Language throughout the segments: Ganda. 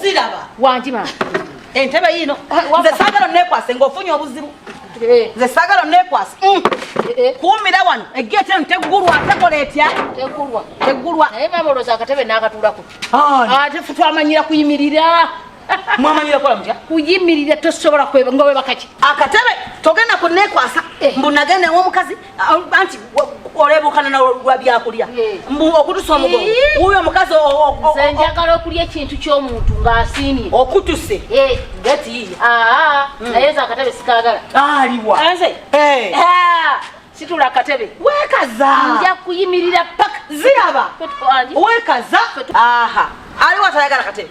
Siraba. Wangi mama. Entebe yino. Eh, Nze sagala nekwase ngofunye obuzibu. Eh. Nze sagala nekwase. Mm. Eh, Kuumira wano. Eggeete eno teggulwa tekola etya? Teggulwa. Teggulwa. Naye mama olowooza akatebe n'akatulako. Ah, ate fu twamanyira kuyimirira. mwamanyira kola mutya kuyimirira tosobola kweba nga webakaki akatebe togenda kunekwasa mbu nagenda ewomukazi anti olebukana nawe lwa byakulya hmm. mbu okutusa omugongo wuyo omukazi nze njagala okulya ekintu ky'omuntu ng'asiimye okutuse eh. gati ah, hmm. naye nze akatebe sikagala aliwa nze eh. ah, situla akatebe wekaza nja kuyimirira paka ziraba wekaza aha aliwa tayagala katebe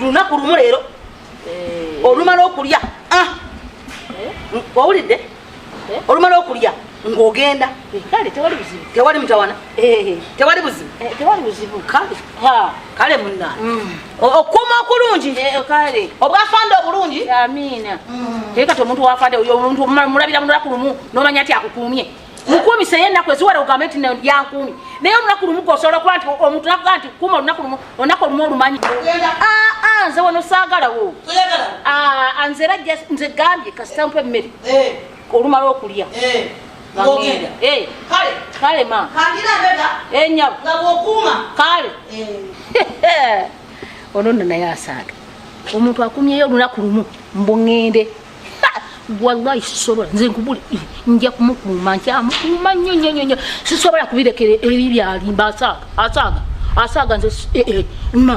lunaku lumu leero eh. olumala okulya ah. eh? owulidde eh? olumala okulya ng'ogenda tewali mutawana tewali buzibu kale muna mm. okuuma okulungi obwafande obulungi mm. kati omuntu wafande omuntu mulabira mulunaku lumu nomanya nti akukuumye nkuumisa ye ennaku eziwera ogambe nti yankuumi naye olunaku lumu gosobola okuba nti omuntu nakuga nti kuuma olunaku lumu olunaku olumu olumanyi ah, ah, nze wano saagalawo ah, nze era nze gambye kasita mpa emmere eh. olumala okulya eh. eh. kale ma enyabo kale ono nno naye asaaga omuntu akumyeyo olunaku lumu mbuŋŋende wallahi sisobola nze nkubuli nja kumukuuma nkyamukuuma nnyo nnyo nnyo nnyo sisobola kubirekera ebi byalimba asaaga asaaga asaaga nze eh, eh, ma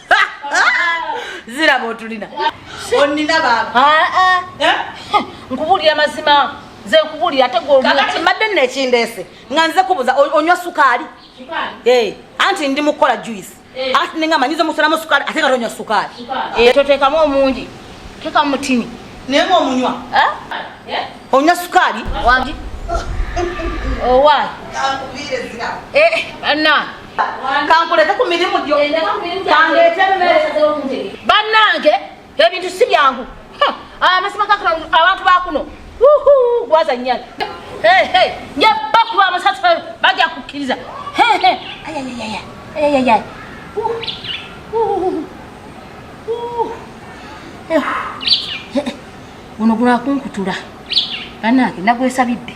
ziraba otulina onina baba eh? nkubuulira mazima nze nkubuulira ate gwekati mbadde nno ekindeese nga nze kubuza onywa sukaali eh, anti ndi mukukola juice eh. ati ninga manyiza omusolamu sukaali ate nga tonywa sukaali toteekamu omungi teekamu mutini naye nga omunywa onywa sukaali owa oh, anna kankuleke ku mirimu gyo kandeete emmere bannange ebintu si byangu amazima gakula abantu bakuno gwaza nyana nja bakuba amasatu bagya kukkiriza ayayayaya guno gulakunkutula banange nagwesabidde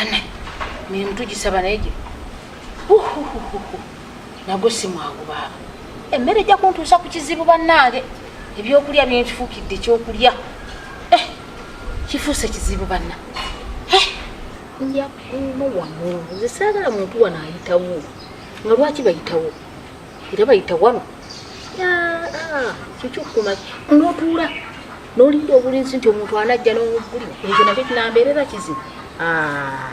ana mirimu tugisaba naye gye nagwo si mwangu baaba emmere ejja kuntuusa ku kizibu bannange ebyokulya byenkifuukidde ekyokulya eh, kifuuse kizibu banna eh, njakuuma wano nze saagala muntu wano ayitawo nga lwaki bayitawo era bayita wano ah, ah, kikyo kumaki notuula nolinda obulinzi nti omuntu anajja nobuli ekyo nakyo kinambeerera kizibu ah.